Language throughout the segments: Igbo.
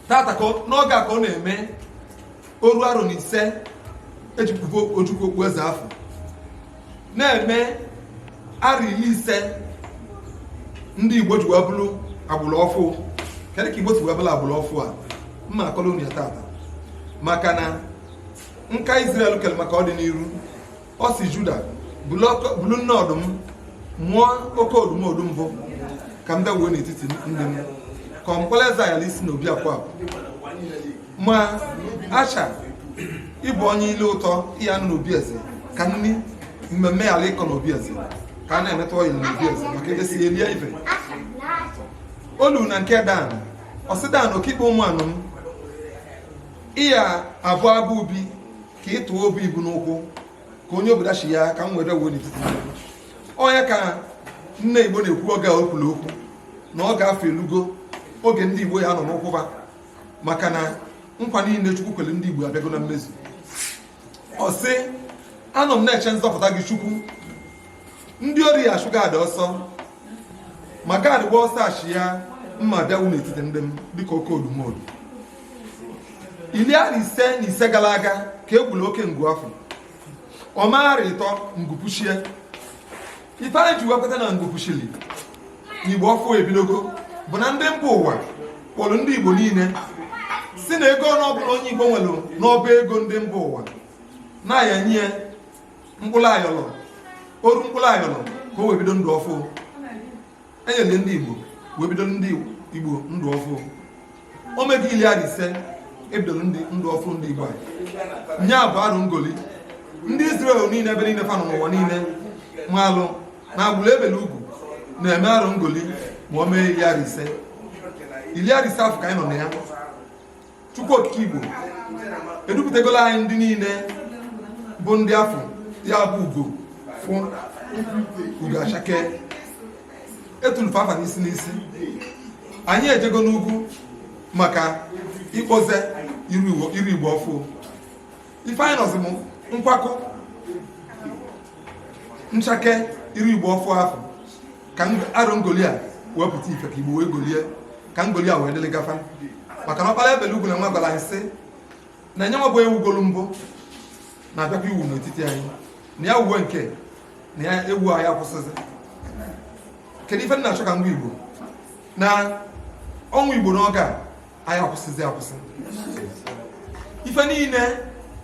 tata n'oge a ka ọ na-eme oru arọ na ise e ji kpube ojukwu okpu eze afụ na-eme arọ iri ise ndị igbo ji wee bụrụ agbụrụ ọfụ kedu ka igbo si wee bụrụ agbụrụ ọfụ a mma akọrọ unu ya tata maka na nka Israel kere maka ọdịnihu ọ sị juda bụlụ nne ọdụm mụọ oke odumodu mbụ ka m bịa wuo n'etiti ndị m ka mkpọla eze yala isi n'obi akwa ma asha ị bụ onye ile ụtọ ị ya-anọ n'obi eze ka nri mmemme yala ịkọ n'obi eze ka a na-emetụ ọyị n'obi eze maka edesi elie ife olu na nke dan ọ sị dan okikpe ụmụ anụ m ị ya-abụ agwọ ubi ka ị tụọ obu ibu n'ụkwụ ka onye o bu dachie ka m were wuo n'etiti onye ka nne igbo na-ekwu oge o kwulu okwu na oge afụ elugo oge ndị igbo ya-anọ n'ụkwụba maka na nkwa niile chukwu kwere ndị igbo abịago na mmezu ọ sị anọ m na-eche nzọpụta gị chukwu ndị ori ya-achụ gad ọsọ ma gad ị gbaa ọsọ achị ya mma bịa wuo n'etiti ndị m dịka oke odumodu iri arọ ise na ise gara aga ka e gburu oke ngu afụ o mee arọ ịtọ ngụpụ chie ife anyị ji wepụta na ngụpụ chili igbo ọfụ ebidogo bụ na ndị mba ụwa kpọrọ ndị igbo niile sị na ego one ọbụla onye igbo nwere n'ọba ego ndị mba ụwa na a ya-enye mkpụrụ ayọrọ oru mkpụrụ ayọrọ ka o wee bido ndụ ọfụ e nyere ndị Igbo wee bido ndị Igbo ndụ ọfụ o mego ili arọ ise e bidoro ndụ ọfụ ndị Igbo ọ ya bụ arọ ngoli ndị Izrel niile ebe niile fa nọ n'ụwa niile maalụ na agbụrụ e bele ugwu na-eme arọ ngoli ma o mee ili arọ ise ili arọ ise afụ ka anyị nọ na ya Chukwu Okike Igbo edupụtagola anyị ndị niile bụ ndị afọ ya bụ ugo ọfụ ugo achake e tulu fa afa n'isi n'isi anyị ejego n'ugwu maka ịkpọze iru igbo ọfụ ife anyị nọzi bụ nkwakọ nchake iru igbo ọfụ afụ ka arọ ngoli a wee pụta ife ka igbo wee golie ka ngoli a wee dịlị gafa maka na ọkpara e bele ugwu na nwa gwara anyị sị na ya nwa bụ e wugolu mbụ na-abịakwa iwu n'etiti anyị na ya wuwe nke na ya ewu anyị akwụsịzi kedu ife nna achọ ka ngwa igbo na ọnwa igbo n'oge a anyị akwụsịzi akwụsị ife niile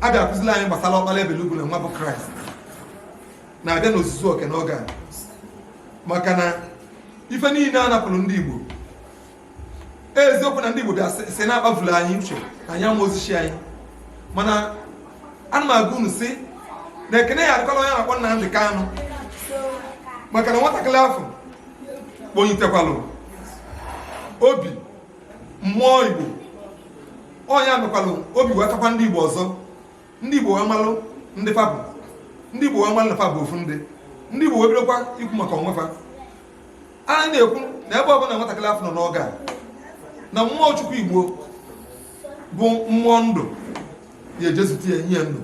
a bịa akụzili anyị gbasara ọkpara e bele ugwu na nwa bụ kraịst na-abịa n'ozuzu oke n'oge a maka na ife niile a napụlụ ndị Igbo eziokwu na ndị Igbo bịa si na-akpavulu anyị uche na anyị amarọzi chi anyị mana ana m agwa unu sị na ekene ya adịkwalụ onye a na-akpọ Nnamdị Kanụ maka na nwatakịrị afụ kpọnitekwalụ obi mmụọ Igbo ọ ya mekwalụ obi wee kaakwa ndị Igbo ọzọ ndị Igbo wee malụ ndị fa bụ ndị Igbo wee malụ na fa bụ ofu ndị ndị Igbo wee bidokwa ikwu maka onwe fa anyị na-ekwu na ebe ọbụla nwatakịrị afụ nọ n'oge a na mmụọ Chukwu Igbo bụ mmụọ ndụ ya ejezute ya nye ya ndụ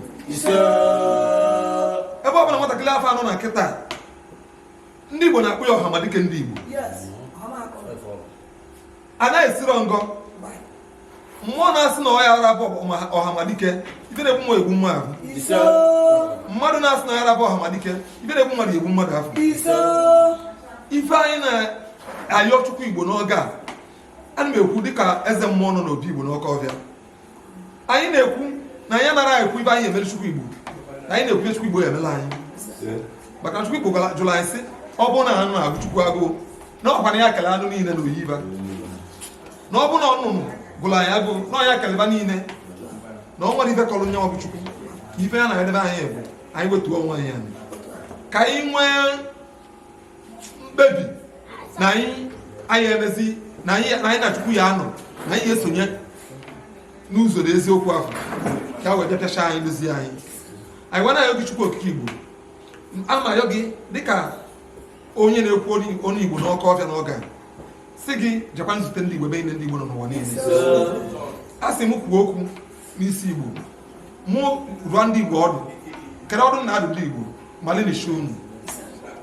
ebe ọbụla nwatakịrị afụ nọ na kịta ndị Igbo na-akpọ ya Ọhamadike ndị Igbo anaghị esiro ngọ mmụọ na-asị na ọ yarọ abụ ọhamadike ife na-egbu nwa egbu nwa ahụ mmadụ na-asị na ọ yarọ abụ ọhamadike ife na-egbu mmadụ egbuo mmadụ afụ ife anyị na-ayọ chukwu igbo n'oge a ana m ekwu dịka eze mmụọ nọ n'obi igbo n'ọkọfịa anyị na-ekwu na anyị anarọ ekwu ife anyị emere chukwu igbo na anyị na-ekwu chukwu igbo ya emelụ anyị maka chukwu igbo jụrụ anyị sị ọ bụrụ na anụ na-agụ chukwu agụụ na ọ kwa na ya kele anụ niile na oyiba na ọ bụ na ọnụnụ gụlụ ya agụụ na ọ ya kelụ fa niile na o nwerọ ife kọlụ nya bụ chukwu na ife ya na edebe anyị bụ anyị wetuo onwe anyị ka anyị nwee mkpebi na anyị ya emezi na anyị na chukwu ya anọ na anyị ya esonye n'ụzọ na eziokwu ahụ ka wee bịa pịachaa anyị dozie anyị anyị wee na-ayọ gị chukwu okike igbo ana m ayọ gị dịka onye na-ekwu onye igbo n'ọkọfịa n'oge a sị gị jekwa nzute ndị Igbo ebe niile ndị Igbo nọ n'ụwa niile a sị m kwuo okwu n'isi Igbo mụ dụọ ndị Igbo ọdụ kedụ ọdụ m na-adụ ndị Igbo malụ chi unu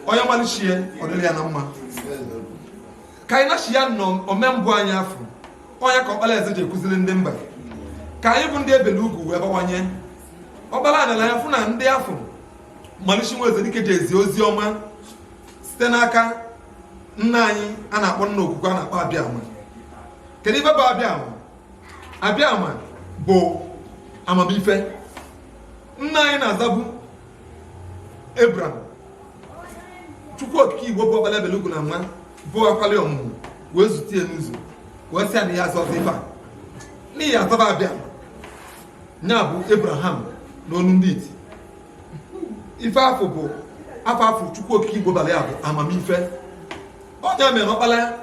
onye malụ chi ya ọ dịrị ya na mma ka anyị nachi ya nọ omembụ anyị afụ onye ka ọkpara eze ji ekụziri ndị mba ka anyị bụ ndị e bele ugwu wee bawanye ọkpara adịla ya fụ na ndị afụ malụ chi nwa eze dike ji ezi ozi ọma site n'aka nna anyị a na-akpọ nna okwukwe a na-akpọ abịama kedu ife bụ abịama abịama bụ amamife nna anyị na-azabu abram chukwu okike igbo bụ ọkpala ebele ugwu na nwa bụ akwali ọmụmụ wee zute ya n'ụzọ wee sị ya na ya azazina afa a na ya azaba abịama ya bụ abraham n'onu ndị iti ife afụ bụ afa afụ chukwu okike igbo bara ya bụ amamife onye mere ọkpara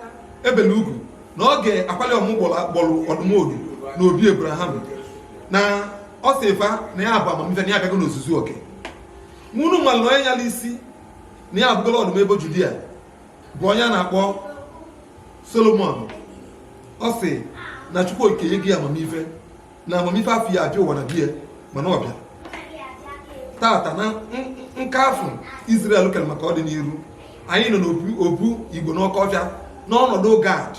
ebele ugwu na ọ ga-akwali ọmụ gbọrọ ọdụmodu na obi abraham na ọ sị fa na ya bụ amamife na ya abịago n'ozuzu oke unu malụ na onye nyala isi na ya abụgola ọdụm ebo judia bụ onye a na-akpọ solomon ọ sị na chukwu okike nye gị amamife na amamife afụ ya abịa ụwa na bie mana ọ bịa tata na nke afụ Israel kere maka ọdịniru anyị nọ n'obu igbo n'ọkọ ọfịa n'ọnọdụ gad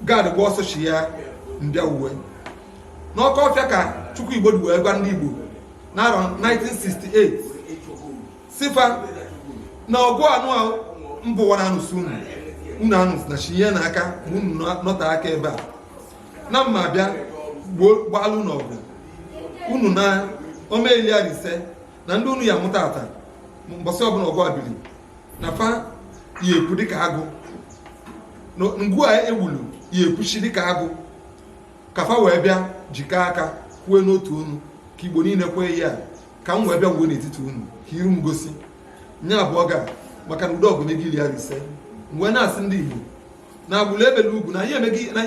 gad gba ọsọ chi ya mbịa uwe n'ọkọ ọfịa ka chukwu igbo dị wee gwa ndị igbo n'arọ 1968 sị fa na ọgụ a na mụwa na anụsị unu unu anụsị na chi ya na aka ma unu nọta aka ebe a na mma bịa gbalụ unu ọbọ unu na ọ mee ili arọ ise na ndị unu ya mụta ata mbọsị ọbụla ọgụ a biri na fa ya ekwu dịka agụ ngwu a ewulu ya ekwuchi dịka agụ ka fa wee bịa jikọọ aka kwee n'otu ọnụ ka igbo niile kwee ya ka m wee bịa wuo n'etiti unu ka iru m gosi nye abụọ ga maka na udo ọgụ mego ili arọ ise m wee na-asị ndị igbo na agbụrụ ebele ugwu na anyị emeghị na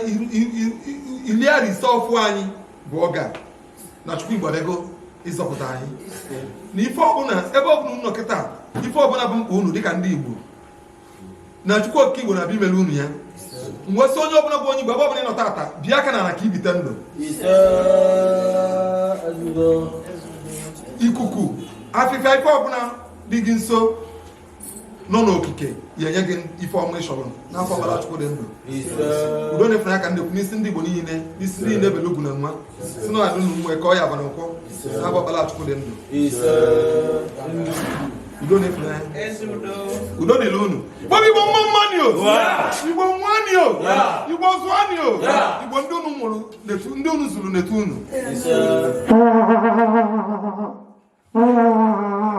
iri arọ ise afụ anyị bụ ọga na chukwu igbo abịago ịzọpụta anyị na ife ọbụla ebe ọbụla unu nọ kịta ife ọbụla bụ mkpa unu dịka ndị igbo na chukwu okike igbo na-abịa imere unu ya m wee sị onye ọbụla bụ onye igbo ebe ọbụla ị nọ tata bịa aka na ala ka i bite ndụ ikuku afịfịa ife ọbụla dị gị nso nọ n'okike ya enye gị ife ọma ị chọrọ n'afa ọkpara chukwu dị ndụ udo na-efere aka ndekwu n'isi ndị igbo niile n'isi niile ebele ugwu na nwa si na ọdụ na nwe ka ọ ya abalị nkwọ n'afa ọkpara chukwu dị ndụ udo na-efere udo dịrị unu igbo igbo mma mmanị o igbo mụanị o igbo zụanị o igbo ndị unu mụrụ ndị unu zụrụ n'etu unu